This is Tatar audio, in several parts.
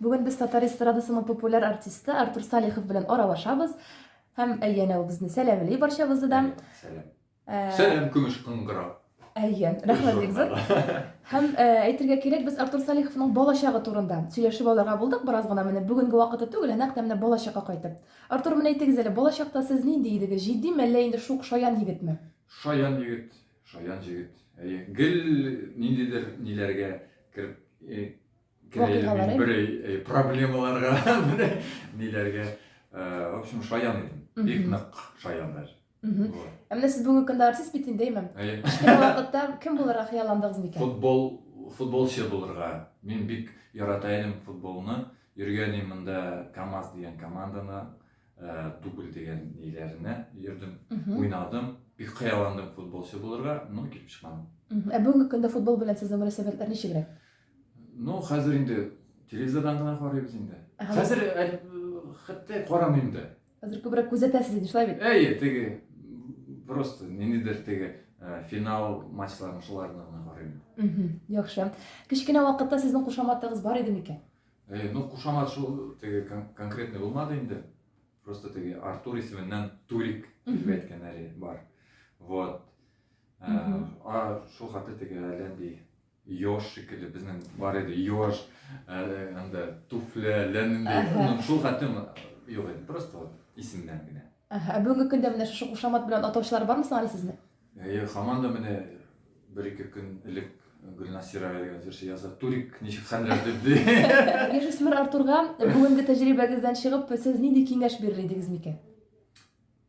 Бүген без татар эстрадасының популяр артисты Артур Салихов белән аралашабыз һәм әйе әнә ул безне сәламли барчабызны да. Сәлам. Э, Сәлам көмеш кыңгыра. Әйе, рәхмәт бик зур. Һәм э, әйтергә кирәк, без Артур Салиховның балачагы турында сөйләшеп алырга булдык бераз гына менә бүгенге вакыты түгел, ә нәкъ менә балачакка кайтып. Артур, менә әйтегез әле, балачакта сез нинди идегез? Җитди мәллә инде шук шаян егетме? Шаян егет, шаян җегет. Әйе, гел ниндидер ниләргә кереп э, вакыйгалары. Бер э, проблемаларга, ниләргә, э, в общем, шаян идем. Бик нык шаян даже. Ә менә сез бүгенге көндә артист бит инде, әйме? Кичкенә вакытта кем булырга хыялландыгыз микән? Футбол, футболчы булырга. Мин бик ярата идем футболны. Йөргән идем монда КАМАЗ дигән команданы, э, дубль дигән ниләренә йөрдем, уйнадым. Бик хыялландым футболчы булырга, но килеп чыкмадым. Ә бүгенге көндә футбол белән сезнең мөнәсәбәтләр ничегрәк? Ну, хәзер инде телевизордан гына карыйбыз инде. Хәзер хәтта карамыйм да. Хәзер күбрәк күзәтәсез инде, шулай бит? Әйе, теге просто ниндидер теге э, финал матчларын шуларны гына карыйм. Яхшы. Кечкенә вакытта сезнең кушаматыгыз бар иде микән? Э, ну, кушамат шул теге конкретный булмады инде. Просто теге Артур исеменнән Турик дип әйткәннәре бар. Вот. Э, а шул хәтта теге әлләндей Ёж шикелле безнең бар иде, ёж, анда туфля, ләнендәй, ну шул хатын юк иде, просто вот исемнән генә. Ә бүгенге көндә менә шушы кушамат белән атаучылар бармы соң әле сезне? Әйе, хаман да менә бер-ике көн элек Гөлнасира дигән җырчы яза, Турик ничек хәлләр дип ди. Яшүсмер Артурга бүгенге тәҗрибәгездән чыгып, сез нинди киңәш бирер идегез микән?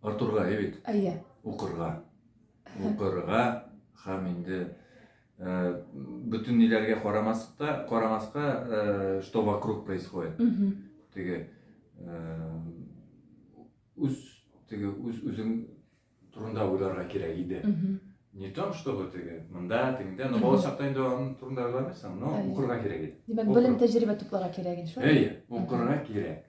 Артурга, әйе бит? Әйе. Укырга. Укырга һәм инде э, бөтен ниләргә карамаска, карамаска, э, что вокруг происходит. Теге э, үз теге үз үзең турында уйларга кирәк иде. Не том, чтобы теге монда, тегендә, но балачакта инде аның турында уйламыйсың, но укырга кирәк иде. Димәк, белем тәҗрибә тупларга кирәк иде, шулай? Әйе, укырга кирәк.